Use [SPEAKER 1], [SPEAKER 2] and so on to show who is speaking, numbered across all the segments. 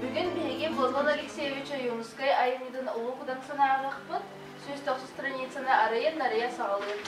[SPEAKER 1] Бүгүн биһиги Бозван Алексеевич Ойуунускай айымньытын Улуу Кутан санааҕыхпыт сүүс тохсус страницаны арыйан-арыйа саҕалыыр.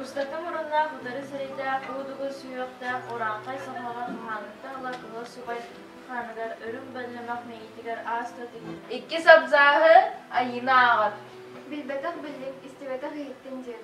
[SPEAKER 1] Устата муруннаах утары сирэйдээх уудугу сүһүөхтээх ураанхай соһоҕо хаһааныттан ылар кыһыл субай хааныгар үрүҥ бэлэмэх мэйиитигэр ааста тигир. Иккис абзааһы айыыны ааҕар. Билбэтэх биллиҥ, истибэтэх иһиттин диэн.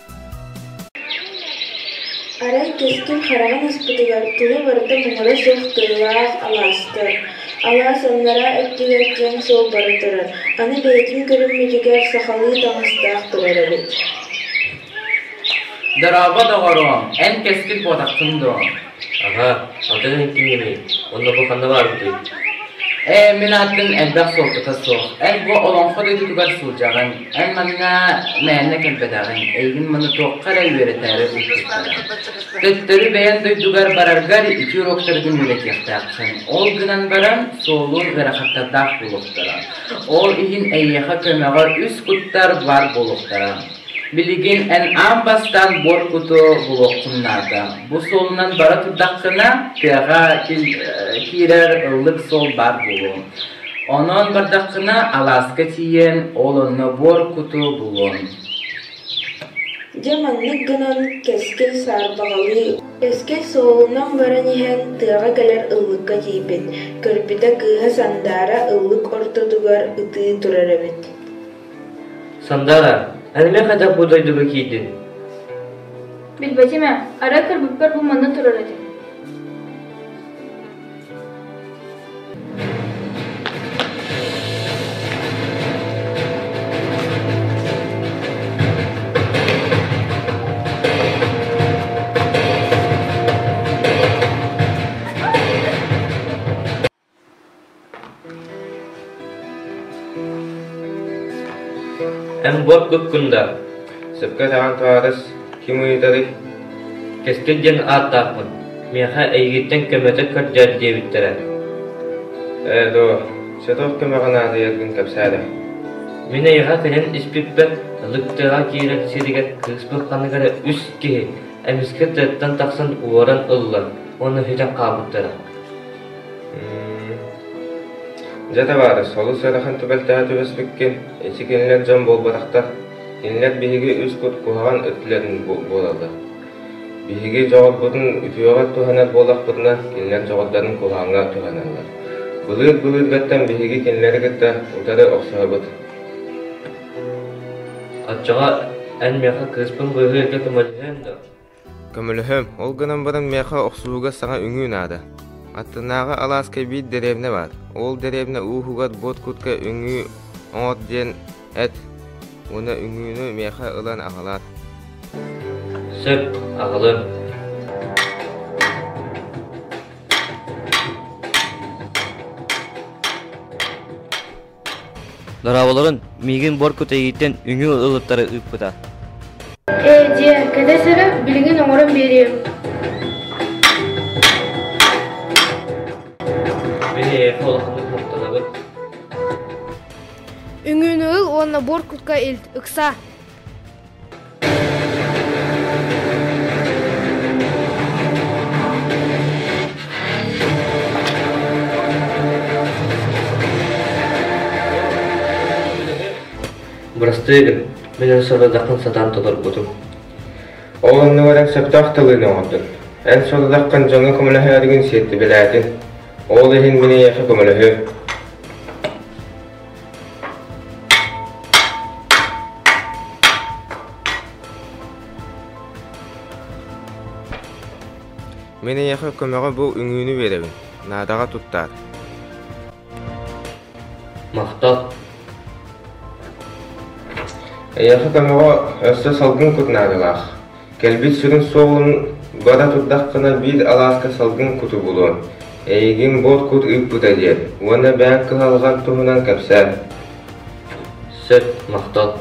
[SPEAKER 1] Арай кэскил хараҕын аспытыгар тула барыта муҥура суох тыалаах алаастар. Алаас аннараа өттүгэр киэҥ суол бара турар, аны бэйэтин көрүммүтүгэр сахалыы таҥастаах турар эбит Аҕа, хантан интиҥҥиний? Уонна бу ханна бааргытый? Ээ, мин аатым элбэх суолтата суох. Эн бу Олоҥхо дойдутугар сылдьаҕын. Эн манна мээнэ кэлбэтэҕиҥ. Эйигин маны туохха эрэ үөрэтээри ыыппыттара. Төттөрү бэйэн дойдугар бараргар үтүө уруоктаргын үөрэтиэхтээххин. Ол гынан баран, суолун ыарахаттардаах буолуохтара. Ол иһин эйиэхэ көмөҕө үс куттар баар буолуохтара. Билигин эн аан бастаан буор куту булуоххун наада. Бу суолунан бара турдаххына, тыаҕа киирэр ыллык суол баар буолуон. Онон бардаххына алааска тиийэн, ол онно буор куту булуон. Дьэ маннык гынан кэскил саарбаҕалыы, кэскил суолунан баран иһэн тыаҕа кэлэр ыллыкка тиийбит, көрбүтэ кыыһа сандаара ыллык ортотугар ытыы турар эбит. Сандаара, эһэми хайдах бу дойдуга киирдин? Билбэтим ээ, арай кырбыппар бу манна турар этим Эн буор куккунда, сөпкө өтөҕөн туһаарыс, ким ыйытарый? Кэскил диэн ааттаахпын, миэхэ эйигиттэн көмөтө көрдөөт диэбиттэрэ. Ээ доо, сөтөх көмөҕө наадыйаргын кэпсээтэ. Мин эйэҕэ кэлэн испиппэт, лыктыаҕа киирэр сиригэр кыыс бырханыгар үс киһи эмискэ тыаттан тахсан уоран ыллан уонна сүтэн хаалбыттара. Дьэ табаарыс, олус ыарахан түбэлтэҕэ түбэспиккин, ити кинилэр дьон буолбатахтар, кинилэр биһиги үс кут куһаҕан өттүлэрин буолаллар. Биһиги дьоҕурбутун үтүөҕэ туһанар буоллахпытына, кинилэр дьоҕурдарын куһаҕаҥҥа туһаналлар. Былыыр-былыыргаттан биһиги кинилэри кытта утары охсуһабыт. Оччоҕо эн миэхэ кыыспын быыһыы эргэ көмөлөһүөм дуо? Көмөлөһүөм, ол гынан баран миэхэ охсуһууга саҥа үҥүү наада. Аттынааҕы алааска биир дэриэбинэ баар. Ол дэриэбинэ ууһугар буот куртка үҥүү оҥор диэн эт уонна үҥүүнү миэхэ ылан аҕалаар. Сөп, аҕалыам. Дорооболорун, миигин буор кутайииттэн үҥүү ылыттары ыыппыта. Ээ дьиэ, кэлэс эрэ, билигин оҥорон биэриэм. Били эйэхэ улаханнык махтанабыт. Үҥүүнү ыл уонна буор кутка илт, ыкса. Бырастыы гын, мин өр сорудаххын сатаан толорбутум. Ол онно баран сөптөөх тылыны оҥордун. Эн сорудаххын дьоҥҥо көмөлөһөөрүгүн сиэттибилээтин. Ол иһин мин эйиэхэ көмөлөһүө. Мин эйиэхэ көмөҕө бу үҥүүнү биэрэбин. Наадаҕа туттаар. Махтал. Эйиэхэ көмөҕө өссө салгын кут наадалаах. Кэлбит сүрүн суолун бара турдаххына биир алааска салгын куту булуон, эйигин буор кут ыыппыта диэн уонна бэйэҥ кыһалҕан туһунан кэпсээн. Сөп, махтал.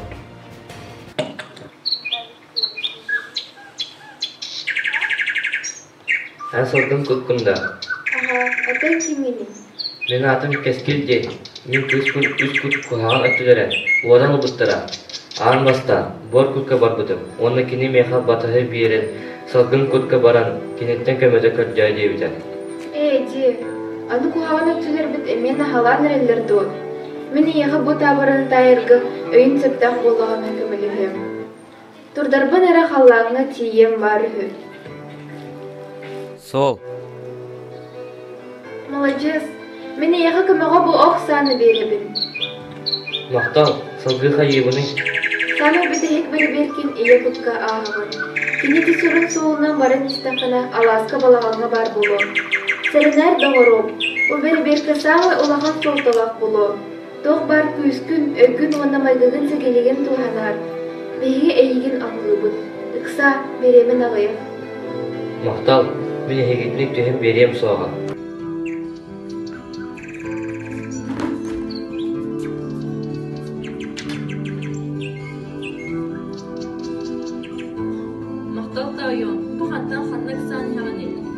[SPEAKER 1] Эн соргун куккун да? Аһа, ата ким ини? Мин аатым Кэскил диэн, мин кыыспын үс кут куһаҕан өттүлэрэ уоран ылбыттара. Аан бастаан буор курка барбытым уонна кини миэхэ батыһы биэрэн салгын курка баран киниттэн көмөтө көрдөөй диэбитэ. Ээ, дии, аны куһаҕан өттүлэрбит эмиэ наһалаан эрэллэр дуо? Мин эйиэхэ бу таабырын таайарга өйүм сөптөөх буоллаҕына көмөлөһүөм Турдарбын эрэ халлааҥҥа тиийиэм баар үһү Сол Маладьыас, мин эйиэхэ көмөҕө бу ох сааны биэрэбин Махтал, салгыы хайыыбыный? Саамай бүтэһик бэрэбиэркин ийэ кукка ааһабын. Кини ити сүрүн суолунан баран истэххинэ алааска балаҕаҥҥа баар буолуо. Сэрэнээр доҕоруом, бу бэрэбиэркэ саамай улахан суолталаах буолуо. Туох баар күүскүн, өйгүн уонна майгыгын сэгилигин туһанар. Биһиги эйигин абылыыбыт. Ыкса, бириэмин аҕыйах. Махтал, мин эһигитник түһэн биэриэм суоҕа. Махтал таайом, бу хантан ханна ыксаан иһэҕиний?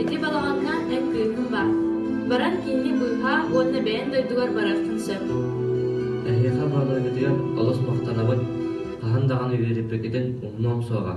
[SPEAKER 1] Ити балаҕаҥҥа эн кыыһыҥ баар. Баран кинини быыһаа уонна бэйэн дойдугар барыаххын сөп. Эһиэхэ Володятыгар олус махтанабыт. Хаһан даҕаны үөрэппиккитин умнуом суоҕа.